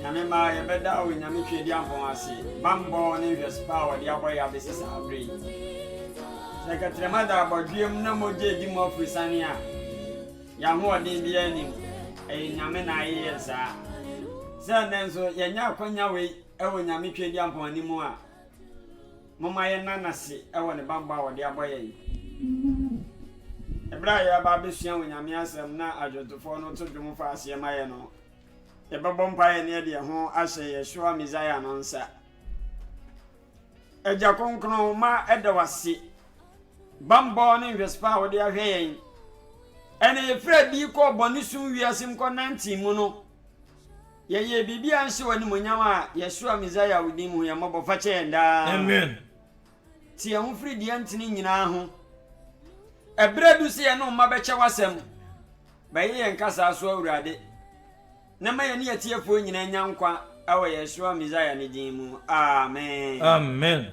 Nyame mma yɛbɛda Onyame Tweaduampɔn ase bammɔ ne nhwɛso pa a wɔde abɔ yɛn abɛsi saa berɛ yi. Sɛ kɛtrɛma da abɔdweam na mogya redi mo afiri sane a, yɛn ahoɔden biara nnim, ɛyɛ Nyame na ayɛ yɛn saa. Sɛ ɛnnɛ nso yɛnya akwanya wei wɔ Nyame Tweaduampɔn anim a, Momma yɛnna no ase wɔ ne bammɔ a ɔde abɔ yɛn Bere a yɛreba abɛsua Onyame Asɛm na adwontofoɔ no to dwom fa aseɛ ma yɛn no, yɛbɛbɔ mpaeɛ na yɛde yɛn ho ahyɛ Yeshua Messiah no nsa. Agya Kronkron, ma ɛda wo ase bammɔ ne nhwɛsofa a wode ahwɛ yɛn ɛne yɛfiri adi kɔɔ bɔne sum wiase mu kɔnantee mu no, Yɛyɛ biribi a ɛnhyɛ w'animuonyam a Yeshua Messiah wo din mu, hu yɛn mmɔbɔ, fa kyɛ yɛn daa. Amen. Te yɛn ho firi deɛ ɛntene nyinaa ho. Ɛberɛ adu sɛ yɛne wo mma bɛkyɛ w'asɛm. Bɛyɛ yɛn kasaa so Awurade, na ma yɛne atiefoɔ nyinaa nya nkwa wɔ Yeshua Messiah ne din mu. Amen. Amen.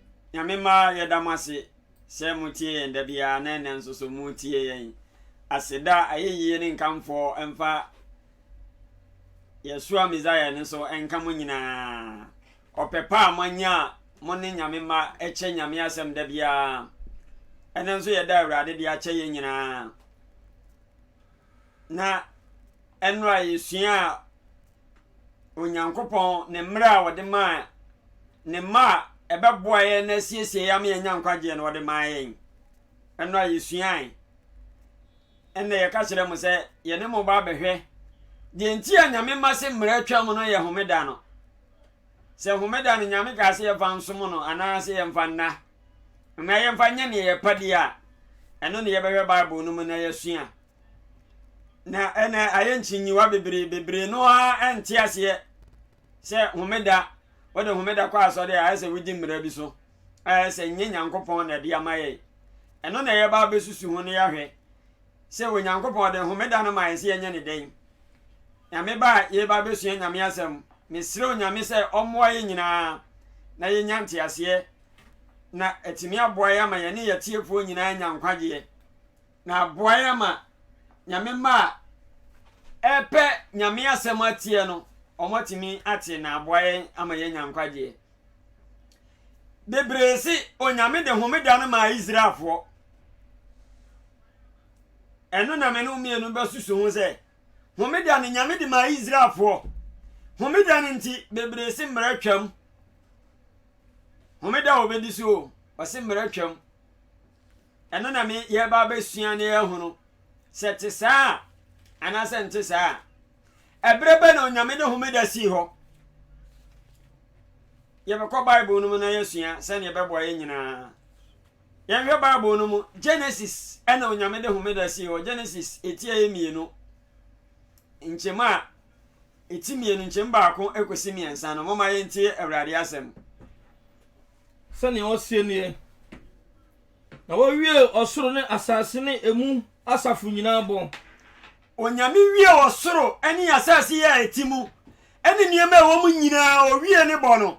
Nyame mma yɛda mo ase sɛ mo tie yɛn da biara na ɛnɛ nso so mo tie yɛn. Aseda, ayɛyie ne nkamfoɔ mfa Yɛsoa Messiah no so nka mo nyinaa. Ɔpɛ pa a mo anya a mo ne Nyame mma kyɛ Nyame asɛm da biara. Ɛnɛ nso yɛda Awurade de akyɛ yɛn nyinaa. na nnora yɛsuaa Onyankopɔn ne mmerɛ a wɔde maa ne mma a ɛbɛboa yɛn na asiesie yɛn ama yɛnya nkwagyeɛ no wɔde maa yɛn ɛno a yɛsuae ɛnna yɛka kyerɛ mo sɛ yɛne mo ba abɛhwɛ deɛ nti a nyame ma se mmerɛ atwam no yɛ homeda no Sɛ homeda no Nyame kaa sɛ yɛmfa nsom no anaa sɛ yɛmfa nna na yɛmfa nyɛ nea ɛpa di a, ɛno na yɛbɛhwɛ Bible no mu na yɛasua. Na ɛnɛ ayɛ nkyinyiwa bebree, bebree no ara nte aseɛ sɛ homeda, wode homeda kɔ asɔre a ɛsɛ wodi mmara bi so a ɛsɛ nyɛ Nyankopɔn na ɛde ama yɛn. Ɛno na yɛba abɛsusu ho na yɛahwɛ. sɛ Onyankopɔn de homeda no mae sɛ yɛnyɛ no dɛn? Nyame ba a yɛreba abɛsua Nyame asɛm, mesrɛ Onyame sɛ ɔmmoa yɛn nyinaa na yɛnya nteaseɛ na atumi aboa yɛn ama yɛne yɛn atiefoɔ nyinaa anya nkwagyeɛ na aboa yɛn ama Nyame mma a ɛpɛ Nyame asɛm atie no wɔatumi ate na aboa yɛn ama yɛanya nkwagyeɛ. bebree se Onyame de homeda no maa Israelfoɔ. Ɛno na me ne mmienu bɛsusu ho sɛ, homeda no Nyame de maa Israelfoɔ. Homeda no nti, bebree se mmerɛ twam. Homeda a wɔbɛdi so o, wɔse mmerɛ twam. Ɛno na me yɛba abɛsua na yɛahunu sɛ te saa a anaasɛ nte saa a. ɛberɛ bɛ na onyame de homeda sii hɔ yɛbɛkɔ bible no mu na yɛasua sɛdeɛ ɛbɛboa yɛ nyinaa yɛnhwɛ bible no mu genesis ɛna onyame de homeda sii hɔ genesis ɛtia yɛ mmienu nkyɛm a ɛti mmienu nkyɛm baako ɛkɔsi mmiɛnsa no moma yɛntie awurade asɛm sɛnea ɔseɛ nie na wɔwie ɔsoro ne asase ne ɛmu asafo nyinaa bɔ Onyame wiee ɔsoro ne asase a ɛte mu ne nneɛma a ɛwɔ mu nyinaa, owiee ne bɔ no.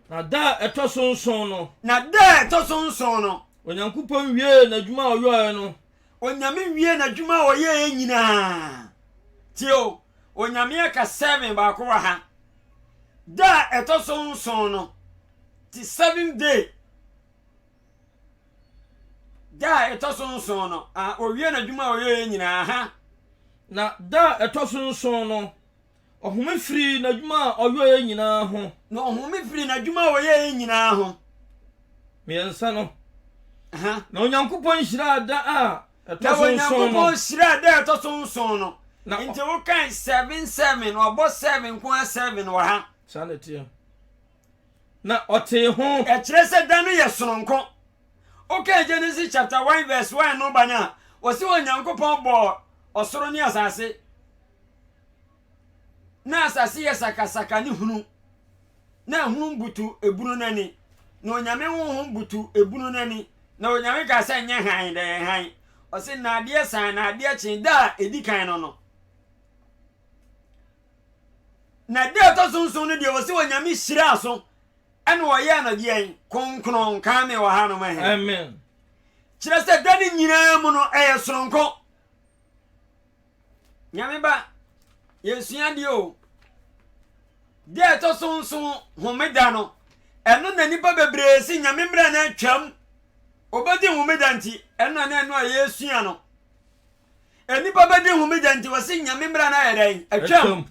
Na da a ɛtɔ so nson no. Na da a ɛtɔ so nson no. Onyankopɔn wiee n'adwuma a ɔyɔeɛ no. Onyame wiee n'adwuma a ɔyɛeɛ nyinaa. Tie o, Onyame aka seven baako wɔ ha. Da a ɛtɔ so nson no, te seventh day. Da a ɛtɔ so nson no, a owie n'adwuma a ɔyɛeɛ nyinaa. Ha. Na da a ɛtɔ so nson no, ɔhome firii n'adwuma a ɔyɛeɛ nyinaa ho. Na ɔhome firii n'adwuma a ɔyɛeɛ nyinaa ho. Mmiɛnsa no. Ha. Na Onyankopɔn hyiraa da a ɛtɔ so nson no. Na Onyankopɔn hyiraa da a ɛtɔ so nson no. Na Nti wokae seven seven, ɔbɔ seven nko ara seven wɔ ha. Saa na ɛteɛ. na ɔtee ho. Ɛkyerɛ sɛ da no yɛ sononko. Wokan Genesis chapter one verse one no ba no a, wɔsi Onyankopɔn bɔɔ ɔsoro ne asase. Na asase yɛ sakasaka ne hunu. Na hunu butu ebunu no ani. Na Onyame honhom butu ebunu no ani. Na Onyame kaa sɛ nyɛ hann, na ɛyɛ hann. Ɔse na adeɛ san, na adeɛ kyen, da a ɛdi kan no no. Na da a ɛtɔ so nson no deɛ wɔ sɛ onyame hyiraa so ɛna ɔyɛɛ no deɛn kronkron kaa me wɔ hanom ɛhɛ amen kyerɛ sɛ da no nyinaa mu no ɛyɛ soronko nyame ba yɛsua deɛ o da ɛtɔ so nson homeda no ɛno na nipa bebree si nyame mmerɛ no atwam obɛdi homeda nti ɛno na ɛno a yɛsua no Nnipa bɛdi homegya nti wɔse nyame mmara no ayɛ dɛn? Atwam.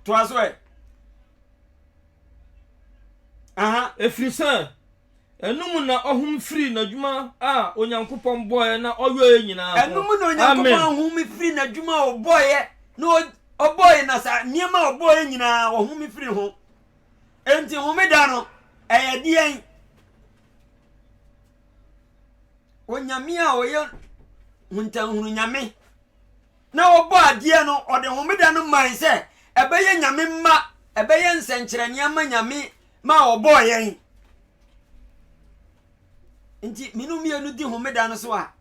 Toa so ɛ. Aha. Ɛfiri sɛ ɛno mu na ɔhom firi n'adwuma a Onyankopɔn bɔeɛ na ɔyɔeɛ nyinaa ho. Ɛno mu na Onyankopɔn ahom firi n'adwuma a ɔbɔeɛ na ɔbɔeɛ na saa nneɛma a ɔbɔeɛ nyinaa ɔhom firi ho. Enti homeda no ɛyɛ deɛn? Onyame a ɔyɛ huntanhunu nyame na ɔbɔ adeɛ no ɔde homeda no mae sɛ ɛbɛyɛ nyame mma ɛbɛyɛ nsɛnkyerɛnneɛ ma nyame ma ɔbɔɔ yɛn nti mene mmienu di homeda no so a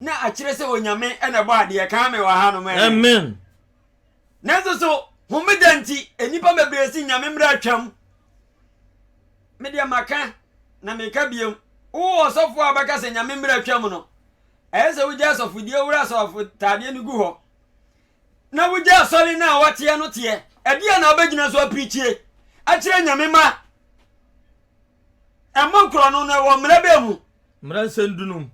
na akyerɛ sɛ onyame na ɛbɔ adeɛ kaa me wɔ ha no mɛ amen nanso so homeda nti nnipa bebree si nyame mmerɛ atwam Me deɛ maka, na meka bio, wo ɔsɔfoɔ a wobɛka sɛ Nyame mmara twam no, ɛyɛ sɛ wogya asɔfodie wura asɔfotaadeɛ no gu hɔ, na wogya asɔre no a woateɛ no teɛ. Ɛdeɛ na wobɛgyina so apirikyie akyerɛ Nyame ma ɛmmɔ korɔno no ɛwɔ mmara bɛɛ mu? Mmara nsɛm dunum.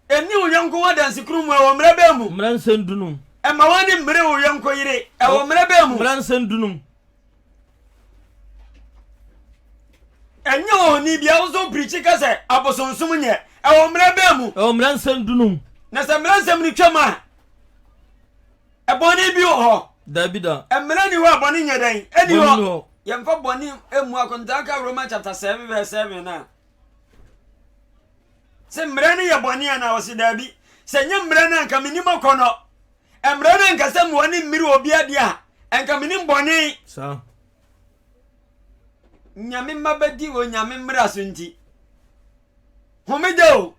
Nni wo yɔnko ho adansekurum mu ɛwɔ mmerɛ bɛn mu? Mmara nsɛm dunum. Mma w'ani mmere wo yɔnko yere ɛwɔ mmerɛ bɛn mu? Mmara nsɛm dunum. Nyɛ ohoni bia wo so pirikyi ka sɛ abosonsom nyɛ ɛwɔ mmerɛ bɛn mu? Ɛwɔ mmara nsɛm dunum. Na sɛ mmara nsɛm no twam a bɔne bi wɔ hɔ? Dabi da. Mmara nni hɔ a bɔne nyɛ dɛn? Ɛnni hɔ. Yɛmfa bɔne mmu akontaa ka Roma chapter seven verse seven no a. sɛ mmerɛ no yɛ bɔne anaa ɔse daabi sɛ nyɛ mmerɛ no anka menim akɔnɔ mmerɛ no anka sɛ mmoa ne mmiri obi adeɛ a anka menim bɔne saa nyame mma bɛdi wɔ nyame mmara so nti homeda o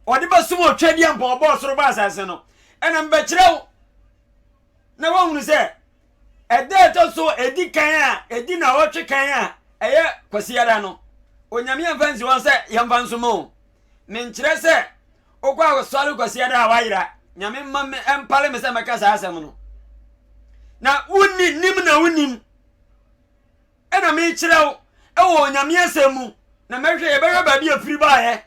ɔde bɛsom ɔtwadeɛ mpa ɔbɔ ɔsoro ba asase no ɛna mbɛkyerɛ wo na woahunu sɛ Ɛda a ɛtɔ so edi kan a edi nnawɔtwe kan a ɛyɛ Kwasiada no, Onyame amfa ansi hɔ sɛ yɛmfa nsom o. Menkyerɛ sɛ wokɔ asɔre Kwasiada a woayera, Nyame mma ɛmpale me sɛ mɛka saa asɛm no. Na wonni nim na wonim ɛna mekyerɛ wo ɛwɔ Onyame asɛm mu na mɛhwɛ yɛbɛhwɛ baabi a firi baeɛ.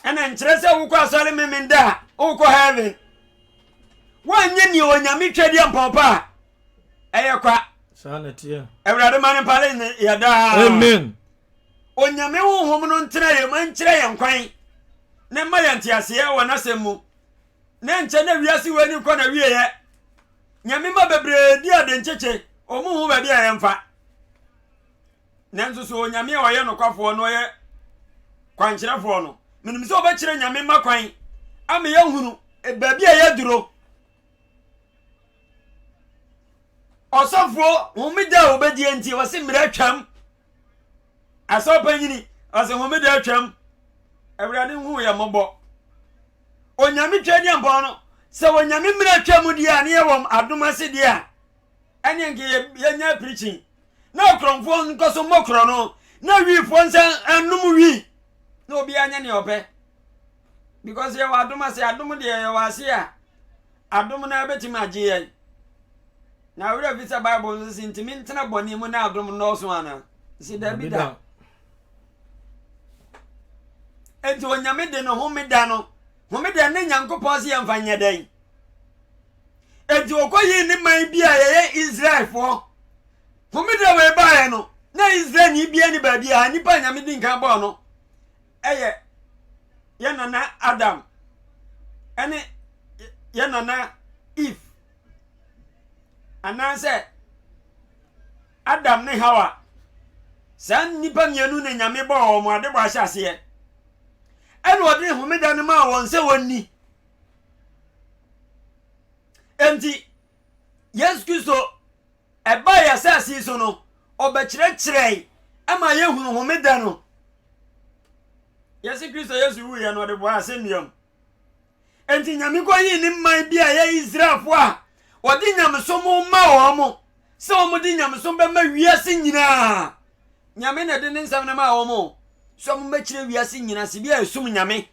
ɛna nkyerɛ sɛ wokɔ asɔre memenda a wokɔ heaven woanyɛ nea onyame twɛdeɛ mpɔpa a ɛyɛ kwa awurade ma no mpale ne yɛdaa amen onyame honhom no ntena yɛ ma nkyerɛ yɛn kwan ne mma yɛn nteaseɛ wɔ n'asɛm mu na nkyɛ na wiase wɔ ani kɔ na wieɛ nyame ma bebree di ade nkyekye ɔmo hu baabi a yɛmfa Nanso so Onyame a ɔyɛ nokwafoɔ na ɔyɛ kwankyerɛfoɔ no, menim sɛ ɔbɛkyerɛ Nyame mma kwan ama yɛahunu baabi a yɛaduro. Ɔsɔfoɔ homeda a ɔbɛdie nti, ɔse mmerɛ atwam. Asɔpa nyini, ɔse homeda atwam. Awurade hu yɛ mmɔbɔ. Onyame twa diampɔn no, sɛ Onyame mmerɛ atwam deɛ a ne yɛwɔ adom ase deɛ a, ɛne nka yɛnya apirikyi na akorɔmfoɔ nkɔ so mmɔ korɔ no na wiifoɔ nsa nnom wii na obiara nyɛ nea ɔpɛ because yɛwɔ adom ase adom deɛ yɛwɔ ase a adom no bɛtumi agye yɛn na awerɛ fi sɛ bible nso si ntumi ntena bɔne mu na adom nnɔɔso ana si dabi da enti onyame de no homeda no homeda ne nyankopɔn se yɛmfa nyɛ dɛn enti wɔkɔyii ne man bi a yɛyɛ Israelfoɔ. Homeda wei baeɛ no, na Israelni biara ni baabi a nipa a Nyame di nkan bɔɔ no yɛ yɛ nana Adam ɛne yɛ nana Eve anaasɛ Adam ne Hawa. Saa nipa mmienu na Nyame bɔɔ wɔn adebɔ ahyɛ aseɛ. Ɛna ɔde homeda no maa wɔn sɛ wɔnni. Enti, Yesu Kristo ɛbae asase yi so no, ɔbɛkyerɛkyerɛe ɛma yɛhunu homeda no. Yɛsi Kristo Yesu wuiɛ no ɔde bɔɔ asɛnnua mu. Enti Nyame kɔyii ne man bi a ɛyɛ Israelfoɔ a wɔde nyamesom ma wɔn mo sɛ wɔn de nyamesom bɛma wiase nyinaa. Nyame na ɛde ne nsɛm no maa wɔn sɛ wɔn bɛkyerɛ wiase nyinaa sɛ bi a ɛsom Nyame.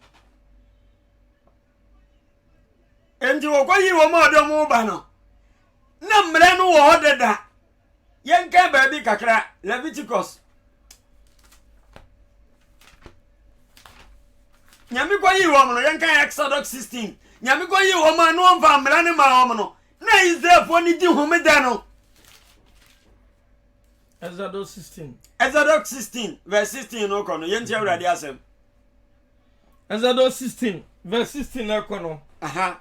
nti wɔkɔyii wɔn a ɔde wɔn ba no na mmerɛ no wɔ hɔ dada yɛnkan baabi kakra leviticus nyame kɔyii wɔn no yɛnkan exodus 16 nyame kɔyii wɔn a na wɔmfa mmara no ma wɔn no na israelfoɔ no di homeda no exodus 16 exodus 16 verse 16 no kɔ no yɛnti awurade asɛm Exodus sixteen verse sixteen na ɛkɔ no. Aha.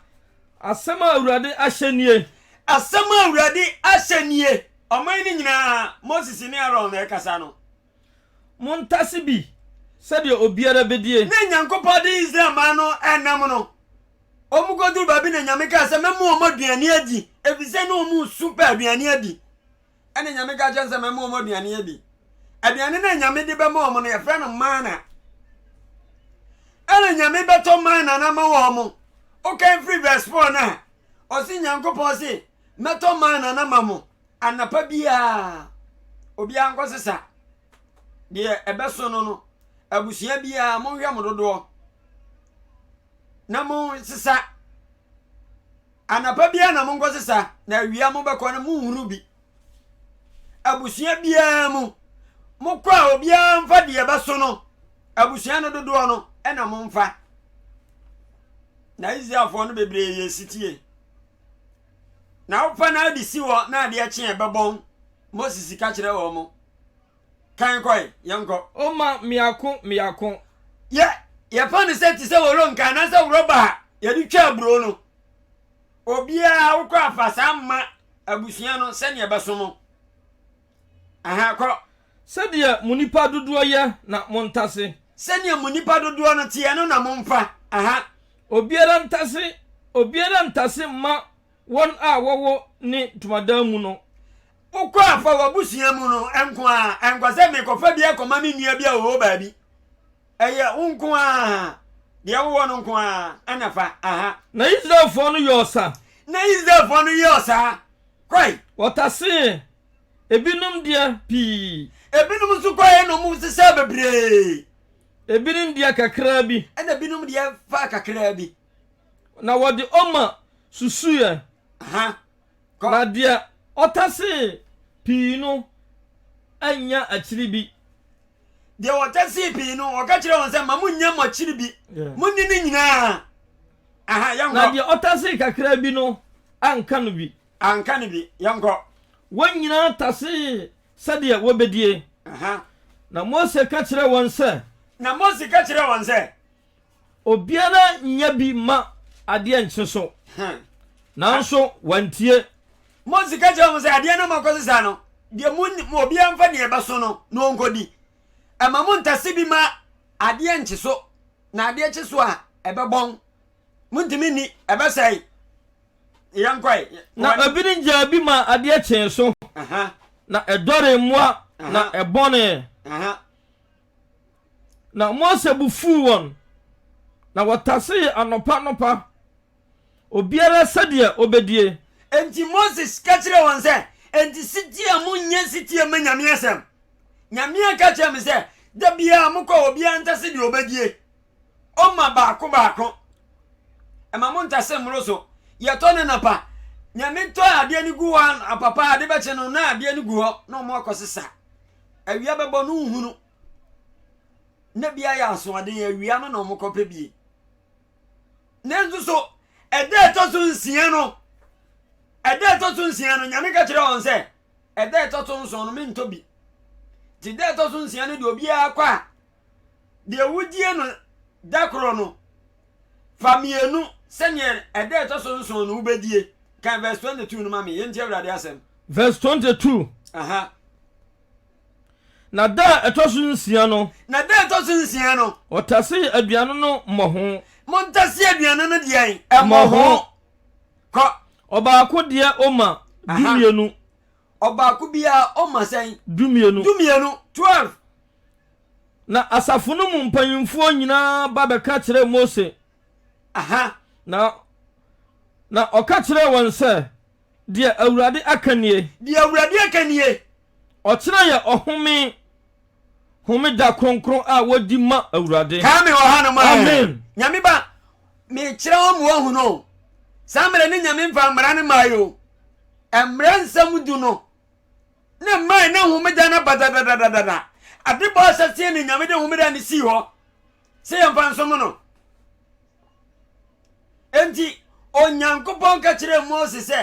Asɛm a Awurade ahyɛ nie. Asɛm a Awurade ahyɛ nie. Ɔman no nyinaa, Moses ne Aaron na ɛkasa no. Montase bi sɛdeɛ obiara bɛdie. Na Nyankopɔn de Israel man no nam no. Wɔn kɔduru baabi na Nyame kaa sɛ, Mɛma wɔn aduane adi, ɛfiri sɛ na wɔn resu pɛ aduane adi. ɛna nyame ka kyɛn sɛ mɛma wɔn aduane adi aduane no a nyame de bɛma wɔn no yɛfrɛ no mana ɛna nyame bɛtɔ mana no ama wɔn wokan firi verse 4 no a ɔse nyankopɔn se mɛtɔ mana no ama mo anapa biara obiara nkɔ sesa deɛ ɛbɛso no no abusua biara monhwɛ mo dodoɔ na mo sesa Anapa biara na monkɔsesa, na awia mobɛkɔ no, monhunu bi. Abusua biara mu, mokɔ a obiara mfa deɛ ɛbɛso no, abusua no dodoɔ no na momfa. Na Israelfoɔ no bebree yɛ sitie. Na wofa no ade si hɔ na adeɛ kye a ɛbɛbɔn, Moses ka kyerɛ wɔn. Kan kɔ ɛ, yɛnkɔ. O ma mmiako mmiako. Yɛ, yɛfa no sɛ te sɛ wolonka anaasɛ worɔba a yɛde twa aburoo no. Obiara wokɔ afa saa mma abusua no sɛdeɛ ɛbɛso mo. Aha, kɔ. Sɛdeɛ mo nipa dodoɔ yɛ na montase. Sɛdeɛ mo nipa dodoɔ no teɛ no na momfa. Aha. Obiara ntase, obiara ntase mma Wɔn a wɔwɔ ne ntomadan mu no. Wokɔ a, fa w'abusua mu no nko ara. Ɛnkɔ sɛ mekɔfa bi akɔma me nua bi a ɔwɔ baabi. Ɛyɛ wo nko ara, deɛ wowɔ no nko ara na fa. Aha. Na Israelfoɔ no yɔɔ sa. Na Israelfoɔ no yɔɔ saa. Kɔe. Wɔtasee ebinom deɛ pii. Ebinom nso kɔe na wɔsesaa bebree. Ebinom deɛ kakraa bi. Ɛna ebinom deɛ faa kakraa bi. na wɔde Oma susuiɛ, na deɛ ɔtasee pii no annya akyiri bi. Deɛ ɔtasee pii no, ɔka kyerɛɛ wɔn sɛ, Ma monnya mo akyiri bi, monni ne nyinaa. Aha, yɛnkɔ. Na deɛ ɔtasee kakra bi no anka no bi. Anka no bi, yɛnkɔ. Wɔn nyinaa tasee sɛdeɛ wɔbɛdie. Na Mose ka kyerɛɛ wɔn sɛ. Na Mose ka kyerɛɛ wɔn sɛ. Obiara nyɛ bi mma adeɛ nkye so. Nanso wɔantie. Mose ka kyerɛɛ wɔn sɛ, Adeɛ no rema akɔ so saa no, deɛ monim, obiara mfa deɛ ɛbɛso no na ɔnkɔdi. Mma monntase bi mma adeɛ nnkye so, na adeɛ kye so a, ɛbɛbɔn. Monntumi nni, ɛbɛsɛe. Yɛnkɔe. Na ebinom gyaa bi maa adeɛ kyee so, na ɛdɔree mmoa, na ɛbɔnee. Na Mose bo fuu wɔn, na wɔtasee anɔpa anɔpa, obiara sɛdeɛ ɔbɛdie. Enti Mose ka kyerɛɛ wɔn sɛ, Enti setie a monnyɛ setie mma Nyame asɛm? Nyame aka akyerɛ me sɛ, Da biara mokɔ a obiara ntase deɛ ɔbɛdie. Ɔma baako baako. Ɛma mo ntase mmoro so. Yɛtɔ no anapa. Nyame tɔ adeɛ no gu hɔ anapa paa ade bɛkye no na adeɛ no gu hɔ na ɔmo akɔ sesa. Awia bɛbɔ no nhunu. Na bi ayɛ asoɔden awia no na ɔmo kɔpɛ bie. Nanso so ɛda ɛtɔ so nsia no ɛda ɛtɔ so nsia no Nyame ka kyerɛ wɔn sɛ ɛda ɛtɔ so nson no mentɔ bi. Nti da ɛtɔ so nsia no deɛ obiara kɔ a deɛ wodie no da korɔ no, fa mmienu sɛdeɛ ɛda ɛtɔ so nson no wobɛdie. Kan verse 22 no ma me, yɛntie Awurade asɛm. Verse 22. Aha. Na da a ɛtɔ so nsia no. Na da a ɛtɔ so nsia no. Wɔtasee aduane no mmɔho. Montase aduane no deɛn? Mmɔho. Kɔ. Ɔbaako deɛ ɔma dumienu. Ɔbaako biara ɔma sɛn? Dumienu. Dumienu, twelve. Na asafo no mu mpanyimfoɔ nyinaa ba bɛka kyerɛɛ Mose. Aha. Na, na ɔka kyerɛɛ wɔn sɛ, Deɛ Awurade aka nie. Deɛ Awurade aka nie. Ɔkyena yɛ ɔhome. Homeda kronkron a wɔdi ma Awurade. Kaa me wɔ hanom ɛ. Amen. Nyame ba, mekyerɛ wo ma wɔahu no o. Saa mmerɛ ne Nyame mfa mmara no mae o. Mmara nsɛm du no na ɛmae na homeda no aba dadadadada. Ade bɔɔ asaseɛ na Nyame de homeda no sii hɔ sɛ yɛmfa nsom no. Enti Onyankopɔn ka kyerɛɛ Mose sɛ,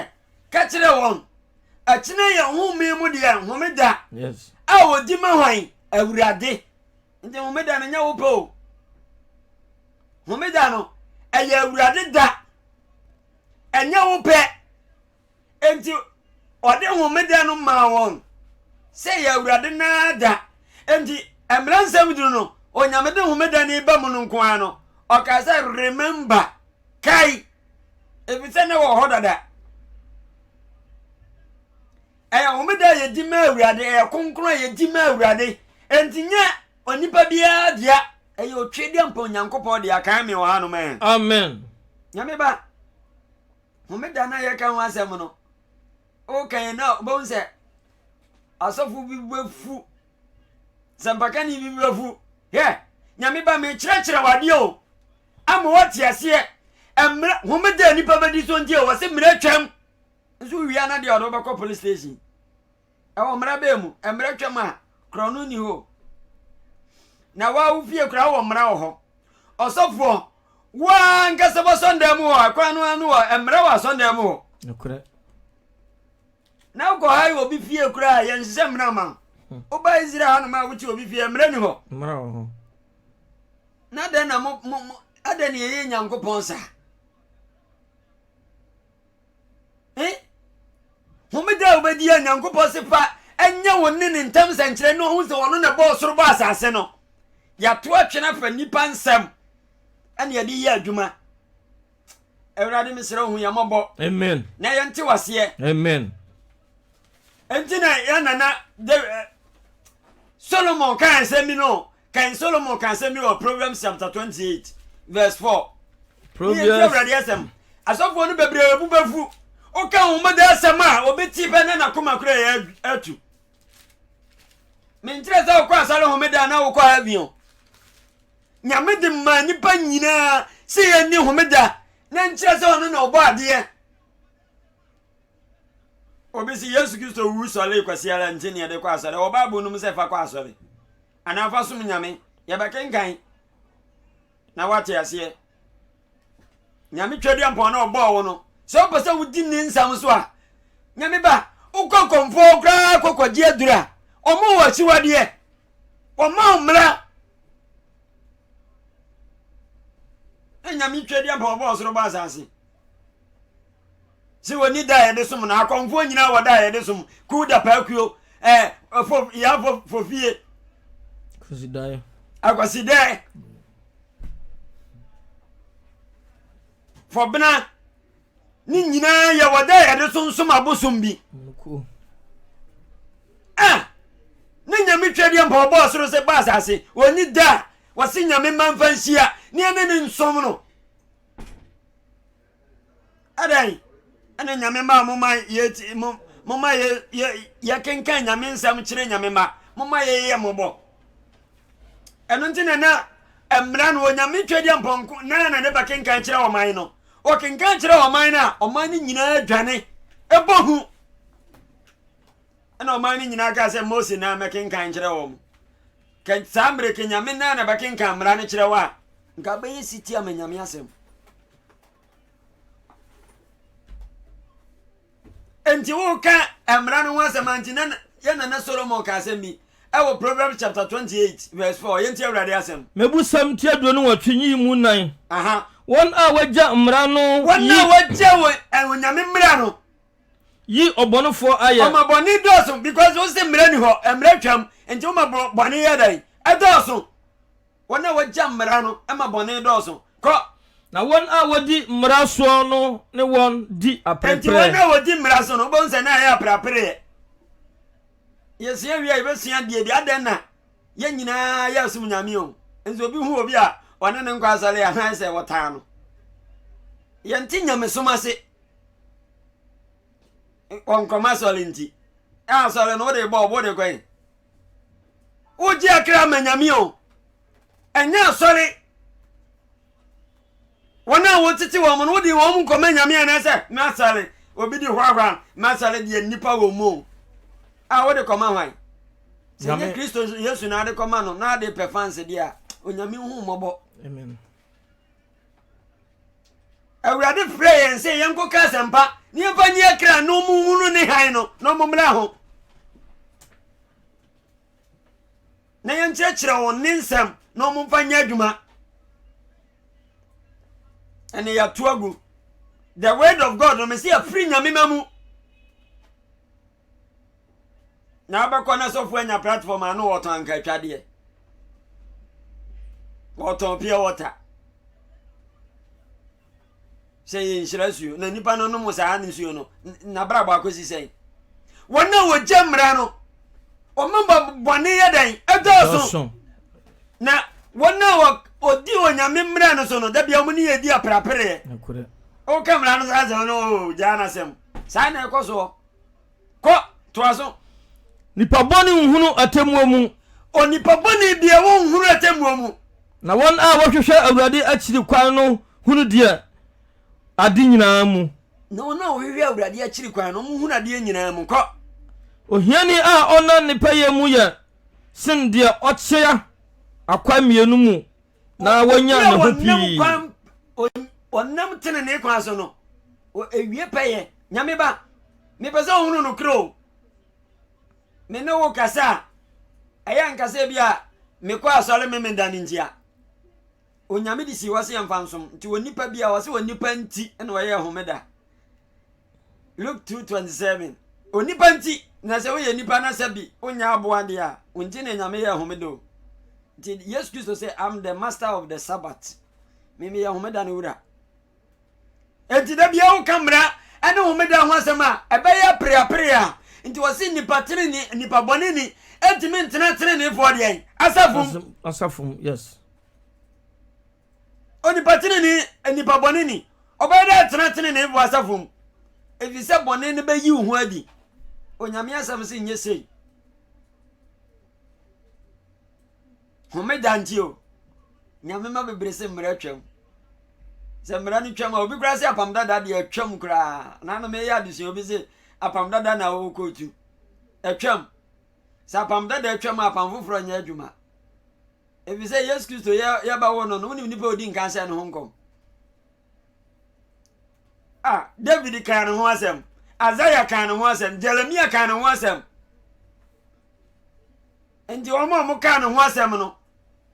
Ka kyerɛ wɔn, 'Ɛkyena yɛ home mu deɛ, homeda, a wɔdi ma hwan? Awurade. Nti homeda no nyɛ wo pɛ o. Homeda no, ɛyɛ Awurade da. Ɛnyɛ wo pɛ. Enti ɔde homeda no maa wɔn sɛ ɛyɛ Awurade no ara da. Enti Mmara Nsɛm Du no, Onyame de homeda no ba mu no nko ara no, ɔkaa sɛ, Remember, kae, efisɛ na ɛwɔ hɔ dada. Ɛyɛ homeda a yɛdi ma Awurade, ɛyɛ kronkron a yɛdi ma Awurade. Enti nyɛ onipa biara dea, ɛyɛ otwedeɛ mpa Onyankopɔn dea. Kae me wɔ hanom ɛ. Amen. Nyame ba. Homeda no a yɛka ho asɛm no, wokan no a wobɛhu sɛ asɔfo bi bɛfu sɛmpakani bi bɛfu hɛ nyame ba mekyerɛkyerɛ wadeɛ o ama woate aseɛ mmerɛ homeda a nnipa bɛdi so nti wɔ se mmerɛ twam nso wia no deɛ ɔde wobɛkɔ police station Ɛwɔ mmara bɛɛ mu. Mmara twam a, korɔno nni hɔ. Na waa wo fie koraa wɔ mmara wɔ hɔ. Ɔsɔfoɔ, waa nkasa wɔ asɔndan mu hɔ, ɛkwan no ano hɔ, mmara wɔ asɔndan mu hɔ. Nokorɛ. Na wokɔ ha yɛ obi fie koraa, yɛnhyehyɛ mmara ma wo. Hmm. Woba Israel hanom a wote obi fie, mmara ni hɔ. Mmara wɔ hɔ. Na dɛn na mo, mo, mo, adɛn na yɛyɛ Nyankopɔn saa? Eh? Homeda a wobɛdi a Nyankopɔn se fa ɛnyɛ wo ne ne ntam sɛnkyerɛ ne ɔhu sɛ ɔno na ɛbɔɔ soro bɔ asase no. Yɛato atwene afa nnipa nsɛm ɛne yɛde yɛ adwuma. Awurade mesrɛ hu yɛn mmɔbɔ. Amen. Na yɛnte waseɛ. Amen. Enti na yɛn nana eh, Solomon kaa nsɛm bi no Kan Solomon ka asɛm bi wɔ Proverbs chapter twenty eight verse four. Proverbs. Yɛn ti awurade asɛm. Asɔfoɔ no bebree bu bɛfu. Woka wɔn bɛda asɛm a obi ti pɛ na n'akoma kura yɛ atu. Menkyerɛ sɛ wokɔ asɔre homeda na wokɔ heaven o. Nyame de maa nnipa nyinaa sɛ yɛnni homeda na nkyerɛ sɛ ɔno na ɔbɔ adeɛ. Obi se Yesu Kristo wu sɔree kwasea ara nti ne yɛde kɔ asɔre. Ɛwɔ Bible no mu sɛ fa kɔ asɔre anaa fa som Nyame. Yɛbɛkenkan na woate aseɛ. Nyame Tweaduampɔn no ɔbɔɔ wo no, sɛ wopɛ sɛ wodi ne nsɛm so a, Nyame ba, wokɔ kɔmfoɔ koraa kɔkɔgye aduru a, ɔmo wɔ akyiwadeɛ. Wɔma wo mmara. Na Nyame Tweaduampɔn ɔbɔɔ soro bɔ asase. sɛ wɔni da a yɛde som no akɔmfoɔ nyinaa wɔ da a yɛde som kuw da paakuo ɛɛ fo yɛafo fofie akwasidaeɛ akwasidaeɛ fɔbena ne nyinaa yɛwɔ da a yɛde som som abosom bi a ne nyame twɛdeɛ mpa ɔbɔɔ soro sɛ ba asase wɔni da a wɔse nyame ma mfa nhyia ne ɛne ne nsom no Adɛn ɛna nyame ma mo ma yɛ ti mo mo ma yɛ yɛ yɛ kenkan nyame nsɛm kyerɛ nyame ma mo ma yɛ yɛ mo bɔ ɛno nti na na mmira no onyame twɛ deɛ mpɔnko na na ne ba kenkan kyerɛ ɔman no ɔkenkan kyerɛ ɔman no a ɔman no nyinaa dwane ɛbɔ hu ɛna ɔman no nyinaa kaa sɛ mose na mɛkenkan kyerɛ wɔn. Kɛ saa mmerɛ kɛ Nyame nan na bɛkenkan mmara no kyerɛ wo a, nka bɛyɛ sitie ama Nyame asɛm. Nti woka mmara no ho asɛm a, nti na yɛ nana Solomon ka asɛm bi ɛwɔ Proverbs chapter 28 verse 4, yɛntie Awurade asɛm. Mebusɛm ti aduonu nwɔtwe yi mu nan. Wɔn a wɔagya mmara no yi. Wɔn a wɔagya Onyame mmara no. Yi ɔbɔnefoɔ ayɛ. Ɔma bɔne dɔɔso because wose mmara nni hɔ, mmara twam, nti woma bɔne yɛ dɛn? Ɛdɔɔso. Wɔn a wɔgya mmara no ma bɔne dɔɔso. Kɔ. Na wɔn a wɔdi mmara soɔ no ne wɔn di aperepereɛ. Nti wɔn a wɔdi mmara so no, wobɛhu sɛ na ɛyɛ apereapereɛ. Yɛsua wie a yɛbɛsua deɛ bi, adɛn na yɛn nyinaa yɛsom Nyame o, nso obi hu obi a ɔne no nkɔ asɔre a, na ayɛ sɛ wɔtaa no. Yɛnte nyamesom ase. nkɔnkɔm asɔre nti ɛ asɔre no wode bɔ ɔbo de kɔn wogye akra ma nyame o ɛnyɛ asɔre wɔn a wɔtete wɔn no wode wɔn mu nkɔma nyame anɛ sɛ masɔre obi di hwahwa masɔre deɛ nnipa wɔ mu a wode kɔma hwan sɛ nyɛ kristo yesu na ade kɔma no na ade pɛ fanse deɛ a onyame hu mmɔbɔ Awurade frɛ yɛn sɛ yɛnkɔka asɛmpa na yɛmfa nyi akra na ɔmohunu ne hann no na ɔmommra ho na yɛnkyerɛkyerɛ wɔn ne nsɛm na ɔmomfa nyɛ adwuma ɛne yɛato agu the word of god no mesi afiri nyame ma mu na abɛkɔ na sɔfo anya platform ano wɔtɔn anka atwadeɛ wɔtɔn pure water sɛ yɛ nhyira suo na nipa no nom saa ne suo no nabrabɔ akɔsi sɛn wɔn a wɔgya mmara no wɔn ba bɔne yɛ dɛn ɛdɔɔso na wɔn a wɔdi onyame mmara no so no da bia wɔn ne yɛ di aprapereɛ woka mmara no saa sɛm no gyaa no asɛm saa na ɛkɔ soɔ Kɔ, toa so. Nipa bɔne nhunu atemmuo mu. Onipa bɔne deɛ wɔnhunu atemmuo mu. Na wɔn a wɔhwehwɛ Awurade akyiri kwan no hunu deɛ ade nyinaa mu. Na wɔn a wɔhwehwɛ Awurade akyiri kwan no, wɔhunu adeɛ nyinaa mu. Kɔ. Ohiani a ɔnna ne pɛyɛ mu yɛ sen deɛ ɔkyea akwan mmienu mu na wɔnya ne ho pii ɔnam tenenee kwan so no ɛwie pɛyɛ nyame ba mepɛ sɛ wohunu no korɛ o me ne wo kasa a ɛyɛ nkasa bi a mekɔ asɔre me meda no ntia onyame de si hɔ sɛ yɛmfa nsom nti onipa bi a ɔsɛ onipa nti na ɔyɛ homeda Luke two twenty seven. Onipa nti na sɛ woyɛ nipa na sɛ bi wonya aboa deɛ a wonti na nyame yɛ homeda o nti yesu kristo sɛ am the master of the sabbath mimi yɛ homeda no wura enti da bia woka mmara ɛne homeda ho asɛm a ɛbɛyɛ apereapere a nti wɔse nipa tenene nipa bɔne ni ɛntumi ntena tenenefoɔ deɛn asafom asafom yes Onipa tenenee, nipa bɔne ni. Ɔbɛyɛ dɛ atena teneneefo asafo mu, efisɛ bɔne no beyiw ho adi. Onyame asɛm se nyɛ sei. Homeda nti o, nyame ma bebree se mmara twam. Sɛ mmara no twam a, obi koraa se apam dada deɛ atwam koraa. Nanom yɛyɛ adesua obi se apam dada na ɔwɔ kootu. Atwam. Sɛ apam dada atwam a, apam foforɔ nyɛ adwuma. Efisɛ Yesu Kristo yɛ yɛba hɔ no no wonim nipa a odi nkan hyɛ ne ho nkɔm. A David kan ne ho asɛm, Isaiah kan ne ho asɛm, Jeremia kan ne ho asɛm. Nti wɔn a wɔn kan ne ho asɛm no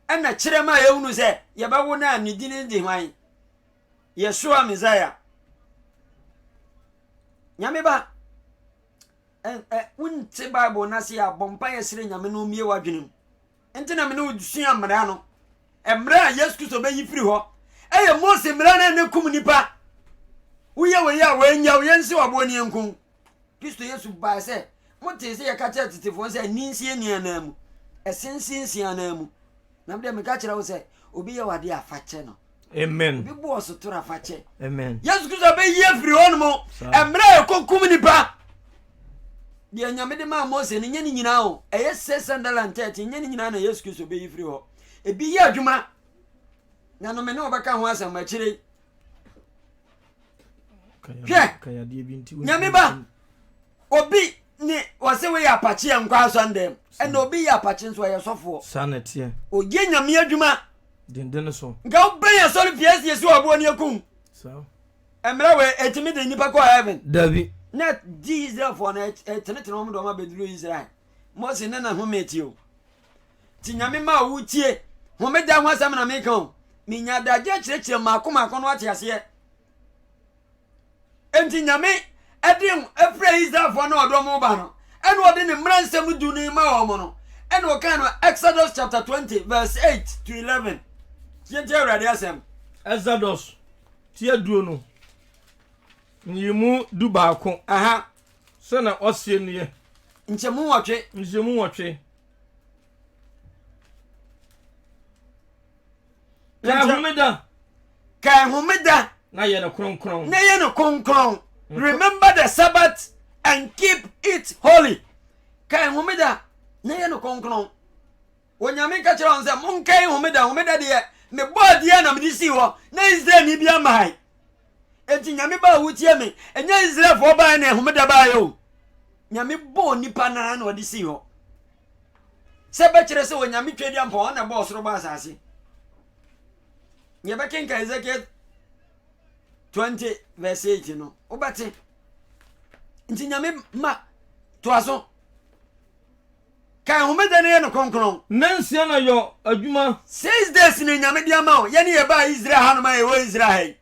ɛna kyerɛ ma yɛhunu sɛ yɛbɛwo no a ne din de hwan? Yɛsoa Messiah. Nyame ba wonte Bible no ase a bɔ mpa yɛsrɛ Nyame no mmie w'adwenem. Enti na me ne wo sua mmara no. Mmara a Yesu Kristo bɛyi firi hɔ yɛ Mose mmara no a na ɛkum nnipa. Woyɛ wei a, wɔanya wo, yɛnse waboɔ ne yɛnku wo. Kristo Yesu bae sɛ, Motee sɛ yɛka kyerɛ tetefoɔ sɛ, 'Nni nsie nni anan mu, ɛse nsie nsie anan mu. Na me deɛ meka kyerɛ wo sɛ, obi yɛ wo adeɛ a, fa kyɛ no. Amen. Obi bu ɔso toro afakyɛ. Amen. Yesu Kristo bɛyi afiri hɔ no mu. Mmerɛ a ɛkɔkum nipa. Deɛ nyame de maa Mose no nyɛ ne nyinaa o. Ɛyɛ six hundred and thirty nyɛ ne nyinaa na Yesu Kristo bɛyi firi hɔ. Ebi yɛ adwuma. Na no me ne wɔbɛka ho asɛm akyire yi. Hwɛ nyame ba obi ne wɔse woyɛ apakye a nkɔ asɔndɛm ɛna obi yɛ apakye nso ɔyɛ sɔfoɔ. Saa na ɛteɛ. Ɔyɛ nyame adwuma. denden so. Nka wobɛn asɔre pii asi asi wɔ aboɔ ne aku ho. Mmerɛ wei ɛtumi de nnipa kɔ heaven? Dabi. Na di Israelfoɔ no ɛtenetene wɔn de wɔn abɛduru Israel. Mose ne na home ti o. Ti nyame ma wo tie. Homeda ho asɛm na meka o. Menya adagyeɛ kyerɛkyerɛ mmaako mmaako no wate aseɛ. Enti Nyame de frɛ Israelfoɔ no a ɔde wɔn ba no, ɛna ɔde ne mmara nsɛm du no ma wɔn no, ɛna ɔkaa no Exodus chapter 20 verse 8 to 11. Tie nti Awurade asɛm. Exodus ti aduonu ne mu du baako. Aha. Sɛ na ɔseɛ nie. Nkyɛmu nwɔtwe. Nkyɛmu nwɔtwe. Ka ahomeda. kae homeda na yɛ no kronkron na yɛ no kronkron remember the sabbath and keep it holy kae homeda na yɛ no kronkron onyame ka kyerɛ wɔn sɛ monkae homeda homeda deɛ mebɔ adeɛ na mede sii hɔ na israelni bi amae enti nyame baa wotie me ɛnyɛ israelfoɔ baeɛ na homeda baeɛ o nyame bɔɔ nipa naa na ɔde sii hɔ sɛ bɛkyerɛ sɛ onyame twadi ampɔn ɔna bɔɔ soro bɔ asase Nea ɛbɛkenkan Ezekiel 20 verse 8 no, wobɛte. Nti nyame ma toa so. Ka homeda no yɛ no kronkron. Nansia na yɔ adwuma. Six days ne nyame de ama o. Yɛne yɛbaa Israel hanom a yɛwɔ Israel ha yi.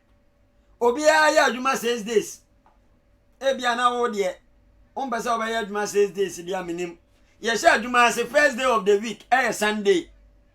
Obiara yɛ adwuma six days. Ebia na wo deɛ, wompɛ sɛ wobɛyɛ adwuma six days deɛ menim. Yɛhyɛ adwuma ase first day of the week ɛyɛ Sunday.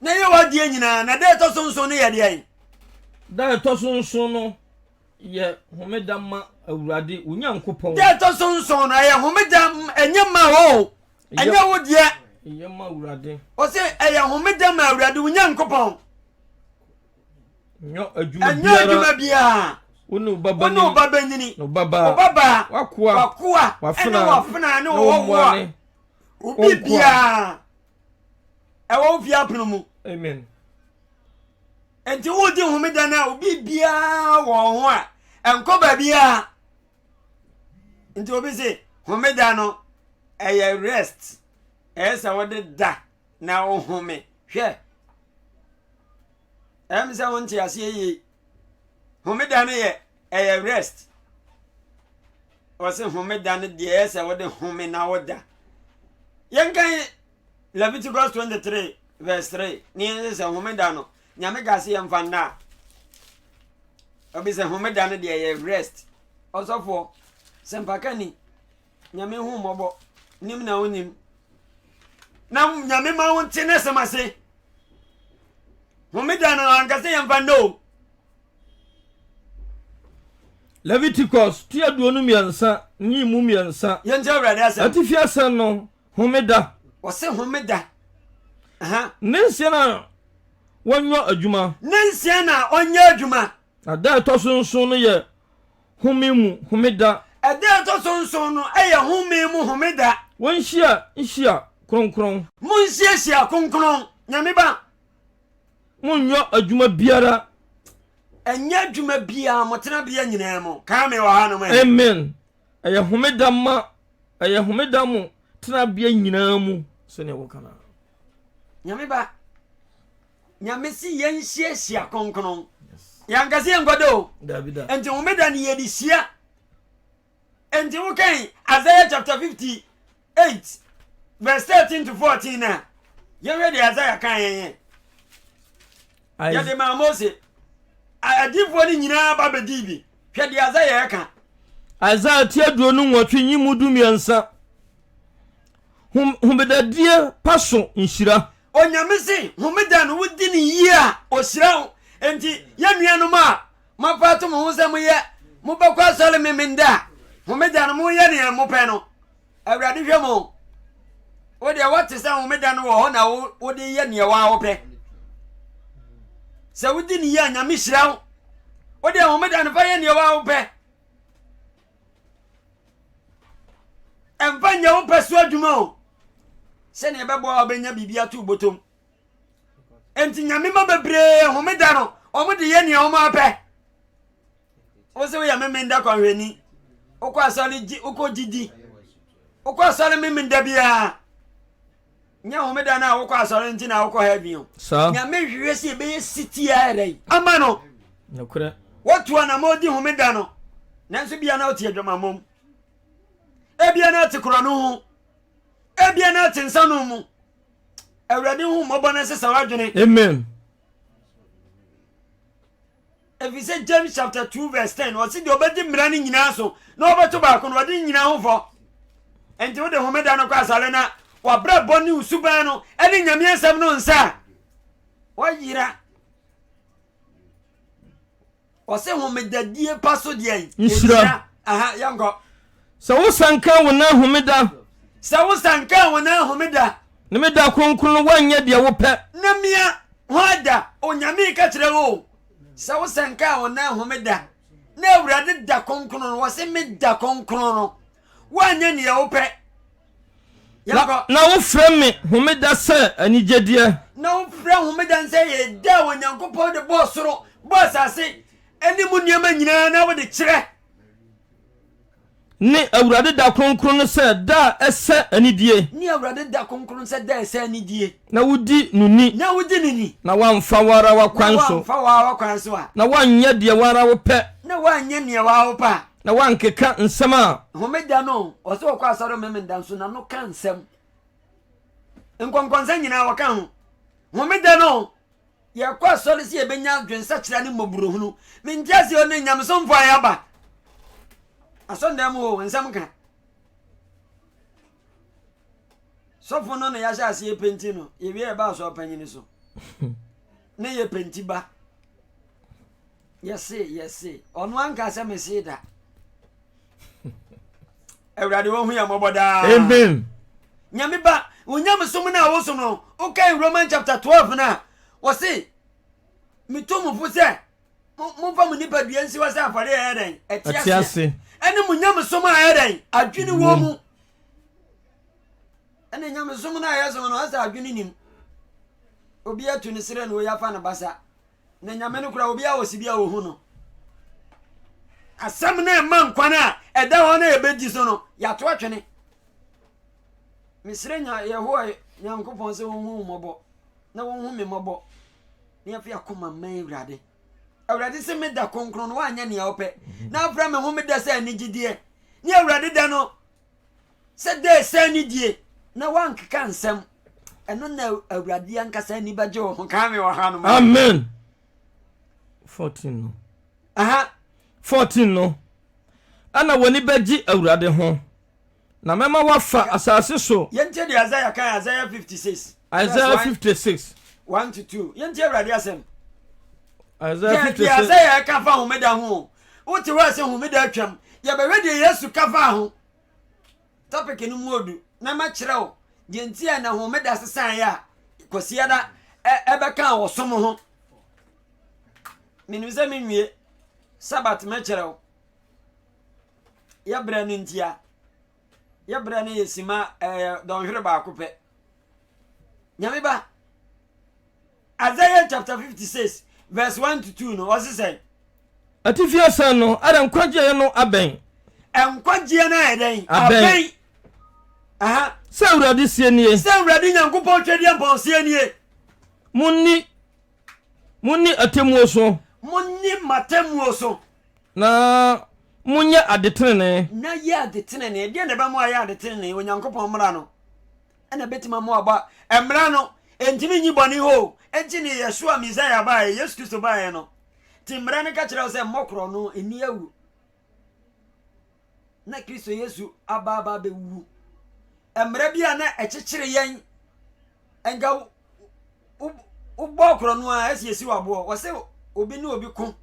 na yɛ w'adeɛ nyinaa na da ɛtɔ so nson no yɛ deɛn da ɛtɔ so nson no yɛ homeda ma awurade wo nyankopɔn da ɛtɔ so nson no ɛyɛ homeda ɛnyɛ ma o ɛnyɛ wo deɛ ɛyɛ ma awurade ɔse ɛyɛ homeda ma awurade wo nyankopɔn nyɔ adwuma biara wone wo ba bɛnyini na ɔbabaa wakoa wafena ne wɔwɔwoa obi biara ɛwɔ wo fie apono mu amen nti wodi homeda no a obi biara wɔ ho a ɛnkɔ baabiara nti obi se homeda no ɛyɛ rest ɛyɛ sɛ wode da na wohome hwɛ ɛm sɛ wonte aseɛ yie homeda no yɛ Ɛyɛ rest. Wɔse homeda no deɛ ɛyɛ sɛ wode home na woda. Yɛnkan Leviticus 23 verse 3 ne yɛnhwɛ sɛ homeda no Nyame ka se yɛmfa nna a. Obi sɛ homeda no deɛ ɛyɛ rest. Ɔsɔfoɔ, sɛmpakani, Nyame hu mmɔbɔ, nim na onyim. Na Nyame ma wo nte n'asɛm ase. Homeda no anka sɛ yɛmfa nnɛ o. Leviticus ti aduonu mmiɛnsa ne mu mmiɛnsa. Yɛnti Awurade asɛm. Atifi asɛm no, homeda. Wɔse homeda. Ne nsia na wɔnyɔ adwuma. Ne nsia na ɔnyɛ adwuma. Na da ɛtɔ so nson no yɛ home mu homeda. Ɛda a ɛtɔ so nson no yɛ home mu homeda. Wonhyia nhyia kronkron. Monhyiahyia kronkron, Nyame ba. Monnyɔ adwuma biara. Ɛnyɛ adwuma biara, mo tenabea nyinaa mu. Kaa me wɔ hanom he. Amen. Ɛyɛ homeda ma, ɛyɛ homeda mo tenabea nyinaa mu, sɛdeɛ wɔka no ara. Nyame ba. Nyame se yɛn nhyia hyia kronkron. Yɛanka sɛ yɛnkɔ da o. Nti homeda no yɛde hyia. Nti wokan Isaiah chapter 58 verse 13 to 14 no a, yɛhwɛ deɛ Isaiah kan yɛn yɛde maa Mose. Adiifoɔ no nyinaa ba bɛdii bi. Hwɛ deɛ Isaiah ɛka. Isaiah ti aduonu nwɔtwe nyi mu du mmiɛnsa. Homedadie pa so nhyira. Onyame se homeda no wodi no yie a ohyira wo enti yɛ nuanom a moafa ato mo ho sɛ moyɛ mobɛkɔ asɔre memenda a homeda no moyɛ nea mopɛ no awurade hwɛ mo wo deɛ woate sɛ homeda no wɔ hɔ na wode yɛ nea waa wopɛ sɛ wodi no yie a nyame hyira wo wo deɛ homeda no fa yɛ nea waa wopɛ ɛmfa nyɛ wo pɛ so adwuma o sɛnea ɛbɛboa a wobɛnya biribi ato botom enti nyame ma bebree homeda no wɔn de yɛ nea wɔn apɛ wo sɛ woyɛ memenda kwanhwɛni wokɔ asɔre gye wokɔ gyidi wokɔ asɔre memenda biara Nyɛ homeda no a wokɔ asɔre nti na wokɔ heaven o. Saa. Nyame hwehwɛ sɛ yɛbɛyɛ setie ara dɛn? Ama no. Nokorɛ. Watu anamɔn di homeda no, nanso ebia na ɔte adwamammɔ mu. Ebia na ɔte korɔno ho. Ebia na ɔte nsanom mu. Awurade hu mmɔbɔ na ɛsesa w'adwene. Amen. Efisɛ James chapter two verse ten ɔsi deɛ ɔbɛdi mmara no nyinaa so na ɔbɛto baako no ɔde ne nyinaa ho fɔ. Nti wode homeda no kɔ asare na wabrabɔ ne osuban no ɛne nyame asɛm no nsa a wɔyera. Ɔse homedadie pa so deɛ nhyira. Aha yɛnkɔ. Sɛ wo sa nka wo nan homeda. Sɛ wo sa nka wo nan homeda. Ne me da kronkron no woanyɛ deɛ wopɛ. Na mia hɔ ada Onyame ka kyerɛ wo sɛ wo sa nka wo nan homeda na Awurade da kronkron no wɔ se me da kronkron no woanyɛ neɛ wopɛ. Na, na wofrɛ me homeda sɛ anigyedeɛ. Na wofrɛ homeda sɛ yɛ da a Onyankopɔn de bɔɔ soro, bɔɔ asase, ɛne mu nneɛma nyinaa na wode kyerɛ. Ne Awurade da kronkron no sɛ da a ɛsɛ anidie. Ne Awurade da kronkron no sɛ da a ɛsɛ anidie. Na wodi no ni. Na wodi no ni. Na woamfa wo ara w'akwan so. Na woamfa wo ara w'akwan so a. Na woanyɛ deɛ wo ara wopɛ. Na woanyɛ nea wo ara wopɛ a. Na woankeka nsɛm a. Homeda no, wɔsɛ wɔkɔ asɔre Homemeda nso na no ka nsɛm. Nkɔnkɔnsɛm nyinaa wɔka ho. Homeda no, Yɛkɔ asɔre sɛ yɛbɛnya adwensakyera ne mmɔborɔhunu. Me nteaseɛ ne nyamesomfoɔ a yɛaba asɔndan mu o nsɛm ka sɔfo no na yɛahyɛ aseɛ penti no yɛwie yɛba asɔre panyini so ne yɛ penti ba Yɛse, yɛse, ɔno anka sɛ mese da. Awurade wɔhu yɛ mmɔbɔ daa. Amen. Nyame ba, onyamesom no a wosom no, wokae Roman chapter 12 no a, wɔse, metu mo fo sɛ momfa mo nipadua nsi hɔ sɛ afɔre ɛyɛ dɛn ɛte ase ɛne mo nyamesom a ɛyɛ dɛn adwene wɔ mu ɛne nyamesom no a yɛsom no asɛ adwene nim obi atu ne serɛ no ɔyi afa ne basa na nyame no kora obiara wɔ si bi a wɔhu no asɛm no ɛma nkwan a ɛda hɔ no a ɛbɛdi so no yɛato atwene mesrɛ nya yɛhowa nyankopɔn sɛ wɔhu mmɔbɔ na wɔhu me mmɔbɔ na yɛfi akoma ma awurade awurade sɛ meda kronkron no woanyɛ nea wopɛ na wopra me ho meda sɛ anigyedeɛ ne awurade da no sɛ dɛ sɛ ne die na wankeka nsɛm ɛno na awurade ankasa ani bɛgye wo ho kaa me wɔ ha no ma amen 14 no aha 14 no ɛna w'ani bɛgye awurade ho na mɛma wafa asase so yɛntie deɛ isaiah kan isaiah 56 isaiah 56 1 to 2 yɛntie awurade asɛm isaiah 56 isaiah ɛka fa homeda ho wote hɔ a sɛ homeda atwam yɛbɛhwɛ deɛ yesu ka faa ho topic no mu odu na makyerɛ wo deɛ nti a na homeda sesaeɛ a kwasiada ɛbɛka wɔ som ho menim sɛ menwie sabat mɛkyerɛ wo yɛbrɛ no ntia yɛbrɛ no yɛsima ɛyɛ dɔnhwere baako pɛ nyame ba Isaiah chapter 56 verse 1 to 2 no, ɔse sɛn? Atifi asan no, ɛdɛ nkwagyeɛ no abɛn. Nkwagyeɛ no ayɛ dɛn? Abɛn. Aha. Sɛ Awurade sie nie. Sɛ Awurade Nyankopɔn Twɛdeɛ Mpɔn sie nie. Monni, monni atemmuo so. Monni m'atemmuo so. Na monyɛ adetenenee. Na yɛ adetenenee. Deɛ na ɛbɛma ayɛ adetenenee, Onyankopɔn mmara no. Ɛna ɛbɛtumi ama waba. Mmara no, ɛntumi nyi bɔne hɔ o. Ɛnti ne Yeshua Messiah baeɛ, Yesu Kristo baeɛ no, nti mmara no ka kyerɛ wo sɛ mmɔ korɔ no, ɛnni awu. Na Kristo Yesu aba aba abɛwu. Mmara bi a na ɛkyekyere yɛn, nka wobɔ korɔ no a ɛsi ɛsi waboɔ. Wɔsɛ obi ne obi ko.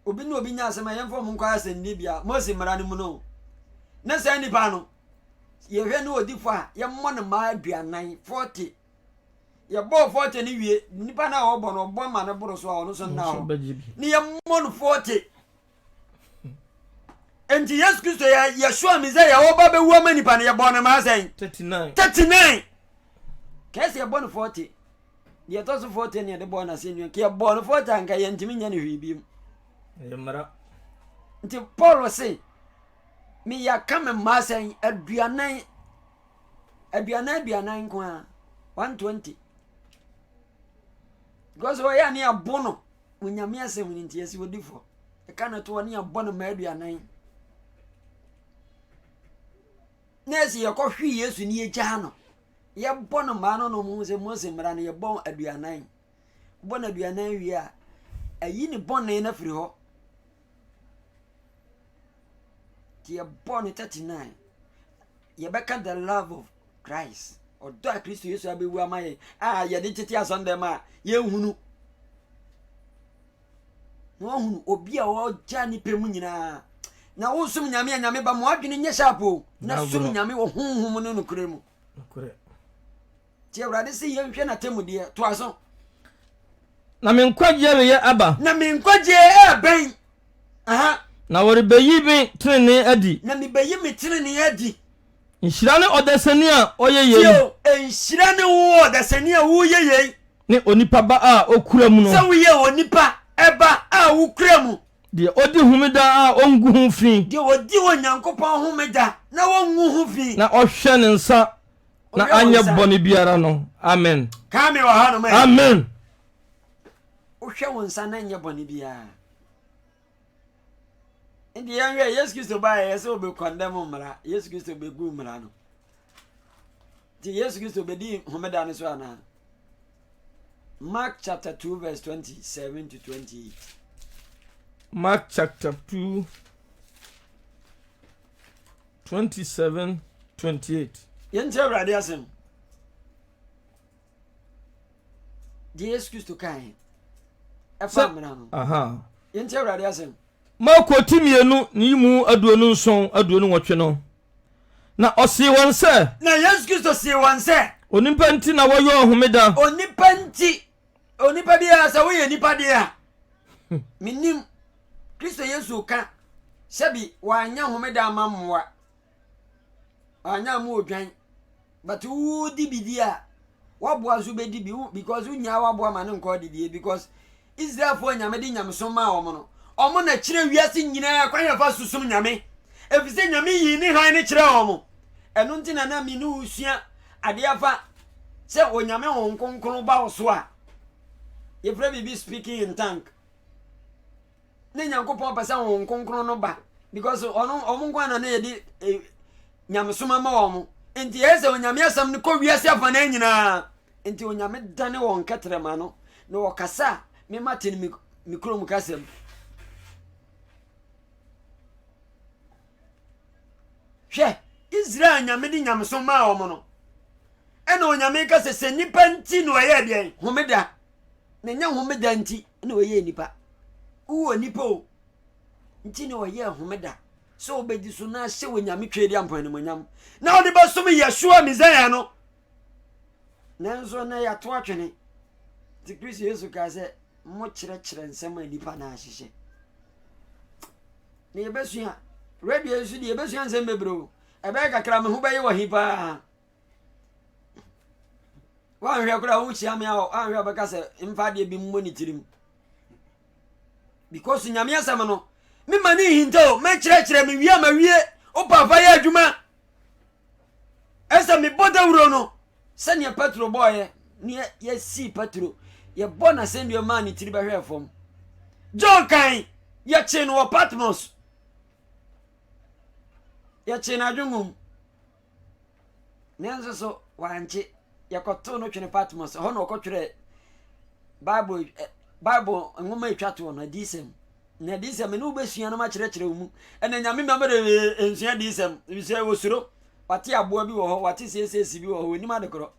Obi ne obi nya asɛm a yɛmfa ɔmo nkɔ asɛnnibea. Mose mmara no mu no. Na saa nipa no, yɛhwɛ ne odifo a yɛmmɔ no mmaa aduanan forty yɛbɔɔ forty no wie nipa no a ɔbɔ no ɔbɔ ma no boro so a ɔno so nna hɔ ne yɛmmɔ no forty nti yesu kristo yɛ yɛsoa mi sɛ yɛwɔ ba bɛwu ama nipa no yɛbɔ no mmaa sɛn thirty nine thirty nine kɛse yɛbɔ no forty deɛ ɛtɔ so forty ne yɛde bɔɔ no asɛnnua nka yɛbɔɔ no forty anka yɛntumi nyɛ no hwee biom nti paul se Meyɛ aka me mma sɛn? Aduanan, aduanan aduanan nko ara, one twenty. Because ɔyɛ a ne abo no, mo nyame asɛm no nti ɛsi odi fɔ. Ɛka no to hɔ ne abɔ no ma aduanan. Na ɛsi yɛkɔ hwe Yesu ne yɛgyaa no. Yɛbɔ no maa no no mo sɛ Mose mmara no yɛbɔ aduanan. Wobɔ no aduanan wie a, ɛyi ne bɔne no firi hɔ. Nti yɛbɔ no 39. Yɛbɛka the love of Christ. Ɔdɔ a Kristo Yesu abɛwu ama yɛn a yɛde tete asɔndɛm a yɛnhunu. Na ɔhunu obi a ɔgya ne pɛ mu nyinaa na wosom nyame a nyame ba mo adwene nyɛ sharp o na som nyame wɔ honhom no nokorɛ mu Ti Awurade se yɛn hwɛ n'atemmudeɛ. To aso. Na me nkwagyeɛ reyɛ aba. Na me nkwagyeɛ ɛɛbɛn. Aha. Na wɔrebɛyi me tenenee adi. Na mebɛyi me tenenee adi. Nhyira ne ɔdasani a ɔyɛ yei. Tie o, nhyira ne wo ɔdasani a woyɛ yei. Ne onipa ba a ɔkura mu no. Sɛ woyɛ onipa ba a wokura mu. Deɛ ɔdi homeda a ɔngu ho fi. Deɛ ɔdi Onyankopɔn homeda na ɔngu ho fi. Na ɔhwɛ ne nsa na anyɛ bɔne biara no amen kaa me wɔ ha nom amen wohwɛ wo nsa na nyɛ bɔne biara nti yɛnhwɛ yesu kristo baɛ yɛ sɛ wɔbɛkɔndɛm mmara yesu kristo bɛgu mmara no nti yesu kristo bɛdi homeda no so anaa mark chapter 2 verse 27 to 28 mark chapter 2 Twenty seven twenty eight. Yɛn ti Awurade asɛm. Deɛ Yesu Kristo kae ɛfa mmara no. Yɛn ti Awurade asɛm. Marko ti mmienu ne yi mu aduonu nson aduonu nwɔtwe no. Na ɔsee wɔn sɛ. Na Yesu Kristo see wɔn sɛ. Onipa nti na wɔyɔɔ homeda. Onipa nti onipa biara sɛ woyɛ nipa deɛ a menim kristo yesu ka sɛbi wanyɛ homeda ama mmoa wanyɛ mu odwan but wodi bidi a waboa nso bɛdi bi because wonyaa waboa ma no nkɔ didie because israelfoɔ a nyame de nyamesom maa wɔn no wɔn na kyerɛ wiase nyinaa kwan yɛfa susom nyame ɛfiri sɛ nyame yii ne han no kyerɛ wɔn ɛno nti na na me ne wo sua adeɛ afa sɛ onyame wɔn kronkron ba wo so a yɛfrɛ biribi speaking in tank ne nyankopɔn pɛ sɛ wɔn kronkron no ba because ɔno ɔmo nko ana na yɛde eh, nyamesoma ma wɔn nti ɛyɛ sɛ onyame asɛm no kɔ wiase afa no nyinaa nti onyame dane wɔn kɛtrɛma no na wɔkasa a mema te no me kurom kasɛm hwɛ israel anyame de nyamesom maa wɔn no ɛna onyame ka sɛ sɛ nipa nti na ɔyɛ deɛn homeda na nyɛ homeda nti na ɔyɛ nipa wowɔ nipa o nti na ɔyɛ homeda sɛ wobɛdi so na ahyɛ wɔ nyame twɛ di ampɔ animonyam na ɔde bɛsom yɛsoa mesaia no nanso na yɛato atwene nti kristo yesu kaa sɛ mokyerɛkyerɛ nsɛm a nnipa na ahyehyɛ Na yɛbɛsua radio yi so deɛ yɛbɛsua nsɛm bebree o ɛbɛyɛ kakra me ho bɛyɛ wɔ he paa woanhwɛ koraa wokyia me a woanhwɛ wobɛka sɛ mfa adeɛ bi mmɔ ne tirim because nyame asɛm no mema ne nhinta o mɛkyerɛkyerɛ mewie a mawie wo papa yɛ adwuma Ɛsɛ mebɔ dawuro no sɛdeɛ Petro bɔɔeɛ ne yɛsii Petro yɛbɔ no asɛnnua maa ne tiri bɛhwɛɛ fam. John kan yɛkyee no wɔ Patmos yɛkyee no adwengum nanso so wankye Wɔkɔtoo no twene Patmos. Ɛhɔ na ɔkɔtwerɛɛ Bible eh, Bible nwoma ɛtwa toɔ no, adiyisɛm. Na adiyisɛm mene wobɛsua no makyerɛkyerɛ wo mu. Ɛna nyame ma mede nsua adiyisɛm. Sɛ wɔsuro, wate aboa bi wɔ hɔ, wate sieseesi bi wɔ hɔ, wɔnim adekorɔ.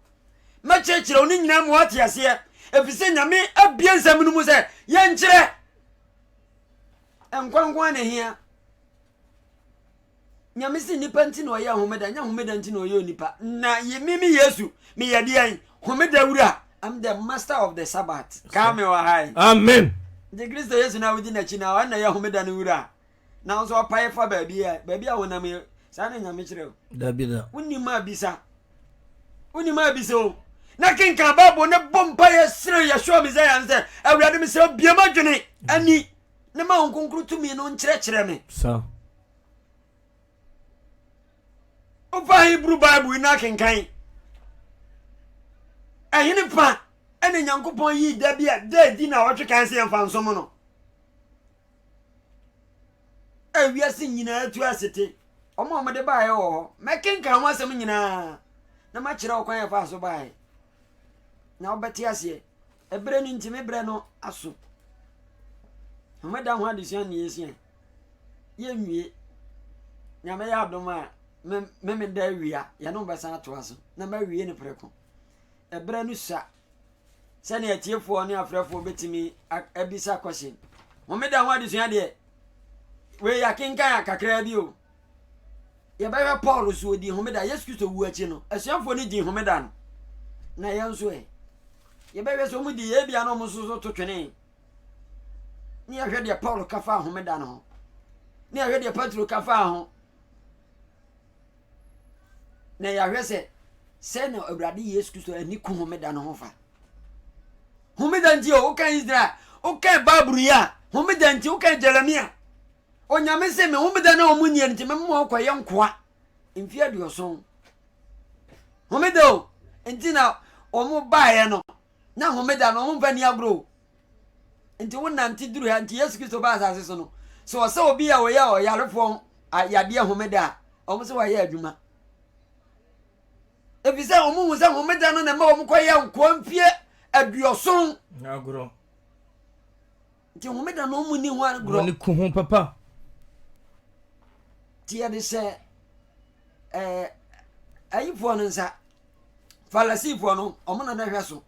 Mɛkyerɛkyerɛ wo ne nyinaa mu wate aseɛ. Ɛfiri sɛ nyame abie nsɛm no mu sɛ yɛnkyerɛ. Nkwa nko a na ɛhia. Nyame se nnipa nti na ɔyɛ homeda, nyɛ homeda nti na ɔyɛ onipa. Na yemi me Yesu, meyɛ deɛn? Homeda wura. I'm the master of the Sabbath. Kaa me wɔ ha yi. Amen. Nti Kristo Yesu na wodi n'akyi na ɔno na ɛyɛ homeda no wura. Na nso ɔpae fa baabi a baabi a honam yɛ. Saa na Nyame kyerɛ o. Dabi da. Wonim a bisa. Wonim a bisa o. Na kenkan Bible ne bɔ mpa yɛ srɛ Yeshua Messiah no sɛ, Awurade mesrɛ bie m'adwene ani. Ne ma Honhom Kronkron tumi no nkyerɛkyerɛ me. Sa. Wofa Hebrew Bible yi na akenkan. Ɛhene pa ɛna Nyankopɔn yii da bi a da adi na ɔtwe kan sɛ yɛmfa nsom no. Ɛ wiase nyinaa tu asete. Wɔn a wɔde baeɛ wɔ hɔ. Mɛkenkan ho asɛm nyinaa na makyerɛ wo kwan a ɛfaa so baeɛ. Na wobɛte aseɛ. Ɛberɛ no nti me berɛ no aso. Homeda ho adesua ne yɛsua yɛnwie nyame yɛ adom a me me da awia yɛne mo bɛsan atoa so na mawie no prɛko ɛberɛ no sua sɛnea atiefoɔ ne afrɛfoɔ bɛtumi abisa question homeda ho adesua deɛ wei yɛakenkan a kakraa bi o Yɛbɛhwɛ Paul so ɔdii homeda. Yesu Kristo wu akyi no, asuafoɔ no dii homeda no. Na yɛn nso ɛ? Yɛbɛhwɛ sɛ wɔn di yɛ bia na wɔn nso so to twene. Ne yɛhwɛ deɛ Paul ka faa homeda no ho. Ne yɛhwɛ deɛ Petro ka faa ho. Na yɛahwɛ sɛ sɛ na Awurade Yesu Kristo ani ku homeda no ho fa. Homeda nti o, wokan Israel, wokan Bible yi a, homeda nti wokan Jeremia. Onyame se me homeda no a wɔn nniɛ nti mɛma wɔn kɔyɛ nkoa mfie aduɔson homeda o nti na wɔn baeɛ no na homeda no wɔn mfa ni agorɔ o nti wo nante duru ha nti Yesu Kristo baa asase so no sɛ ɔsɛ obi a ɔyɛ ɔyarefoɔ yadeɛ homeda a wɔn sɛ wɔayɛ adwuma efi sɛ wɔn hu sɛ homeda no na ɛma wɔn kɔ yɛ nkoa mfie aduɔson agorɔ Nti homeda no ɔmo ni ho agorɔ. Wɔn ku ho papa. Ti yɛde hyɛ ɛɛ eh, ayifoɔ no nsa falasifoɔ no ɔmo na na hwɛ so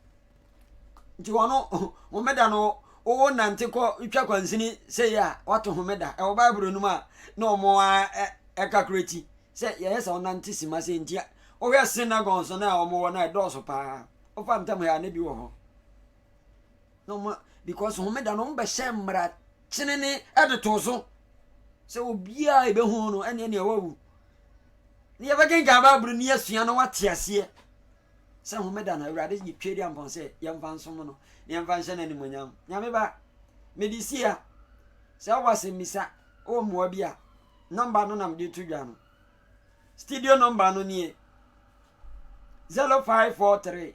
nti wɔn homeda no wo nante kɔ twa kwansini sɛ yɛ a wato homeda ɛwɔ baibul no mu a na ɔmo ɛka kura ti sɛ yɛyɛ sɛ ɔnante sima sɛ ntia wohwɛ synagogue so no a ɔmo wɔ no a ɛdɔɔso paa wofa ntam ha ne bi wɔ hɔ na ɔma because homeda no wɔbɛhyɛ mmara kyenene ɛde too so sɛ obiara ɛbɛhu no ɛne ɛne ɛwawu ne yɛbɛkenkan bible ne yɛasua no wate aseɛ sɛ homeda no awurade yɛtwa di ampɔn sɛ yɛmfa nsom no ne yɛmfa nhyɛ no animonyam nyame ba mede si a sɛ wowɔ asɛmmisa wɔ mmoa bi a nɔmba no nam de to dwa no studio nɔmba no nie 0543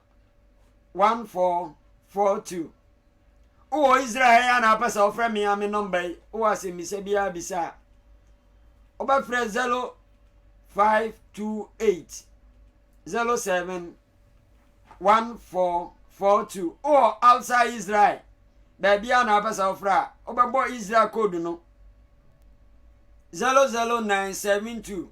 one four four two wowɔ israel ha yi ana apɛ sɛ wofrɛ me a me nɔmba yi wowɔ asɛmmisa biara bisa a wobɛfrɛ zero five two eight zero seven one four four two wowɔ outside israel baabi a na apɛ sɛ wofrɛ a wobɛbɔ israel code no zero zero nine seven two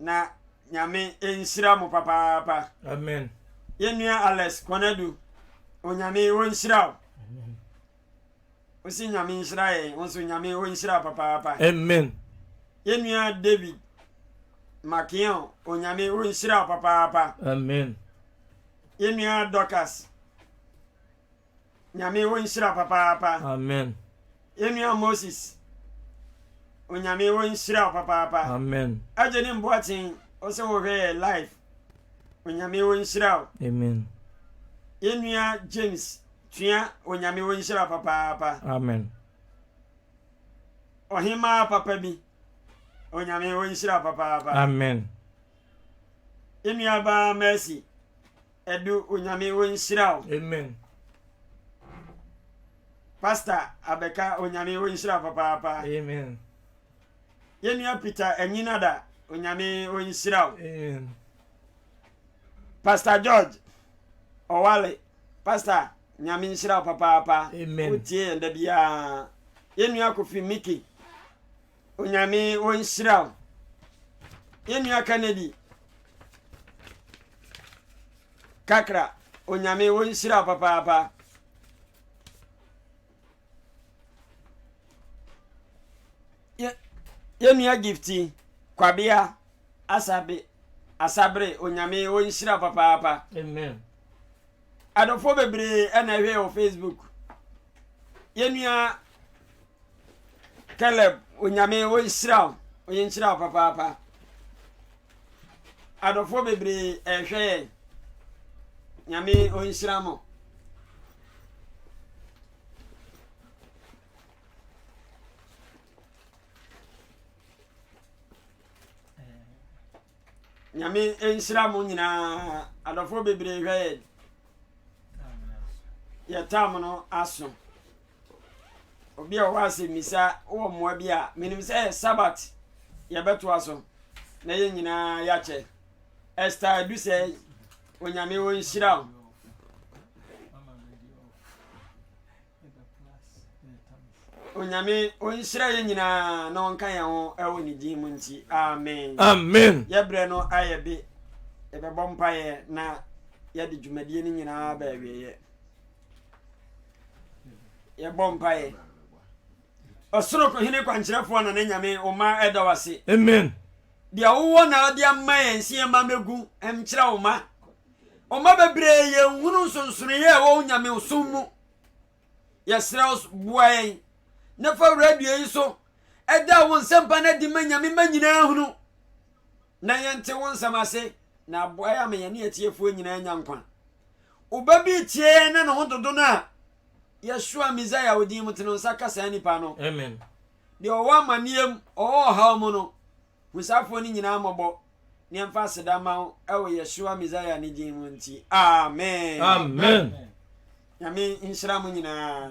na nyame nhyira mo papaapa amen yɛnua alex kɔnadu onyame wɔnhyira wo wosi nyame nhyira yɛn wo nso nyame wɔnhyira papaapa amen yɛnua david makeon onyame wɔnhyira wo papaapa amen yɛnua dorcas Nyame wo nhyira papaapa. Amen. Yɛnua Moses, Onyame wo nhyira wo papaapa. Amen. Agyenim Boakyen, ɔsɛ wɔhwɛ yɛ live. Onyame wo nhyira wo. Amen. Yɛnua James Tua, Onyame wo nhyira papaapa. Amen. Ɔhemaa papa bi, Onyame wo nhyira papaapa. Amen. Yɛnua baa Mercy, Ɛdu onyame wo nhyira wo. Amen. Pastor abɛka onyame wo nhyira papaapa. Amen. Yɛnua Peter Anyinada onyame wo nhyira wo. Amen. Pastor George Owale pastor nyame nhyira wo papaapa. Amen. Wotie yɛn da biara. Yɛnua Kofi Mickey Onyame ɔnhyira wo yɛn nua Kennedy kakra Onyame ɔnhyira wo papaapa. Yɛn nua Gifty Kwabea Asabe Asabre Onyame ɔnhyira wo papaapa. Amen. Adɔfoɔ bebree ɛna ɛhwɛ wɔ Facebook. yɛn nua caleb onyame ɔnhyira wo ɔyɛ nhyira wo papaapa adɔfoɔ bebree ɛhwɛ yɛn nyame ɔnhyira mo Nyame nhyira mo nyinaa adɔfoɔ bebree hwɛ yɛ yɛ tam no aso obi a ɔwɔ asɛmmisa wɔ mmoa bi a menim sɛ yɛ sabat yɛbɛtoa so na yɛn nyinaa yɛakyɛ ɛsta adu sɛ onyame wɔnhyira wo Onyame ɔnhyira yɛ nyinaa na ɔnka yɛn ho ɛwɔ ne din mu nti amen amen yɛbrɛ no ayɛ be yɛbɛbɔ mpaeɛ na yɛde dwumadie no nyinaa bɛawieɛ yɛbɔ mpaeɛ ɔsoro hene kwankyerɛfoɔ na ne nyame wo ma ɛda w ase amen deɛ wowɔ na ɔde ama yɛn sɛ yɛma mɛgu ɛmkyerɛ wo ma Ɔma bebree yɛ nhunu nsonsonoeɛ a ɛwɔ wo nyamesom mu. Yɛsrɛ wo boa yɛn na fa radio yi so ɛda wo nsɛmpa no adi ma nyame ma nyinaa hunu na yɛnte wo nsɛm ase na aboa yɛ ama yɛne atiefoɔ nyinaa nya nkwa. Oba bi tie yɛn na ne ho dodo no a Yeshua Messiah odin mu te no nsa ka saa nipa no. Amen. Deɛ ɔwɔ amaneɛ mu, ɔwɔ ɔhaw mu no, Hu saafoɔ no nyinaa mmɔbɔ, na yɛmfa aseda mma wo wɔ Yeshua Messiah ne din mu nti. Amen. Amen. Nyame nhyira mo nyinaa.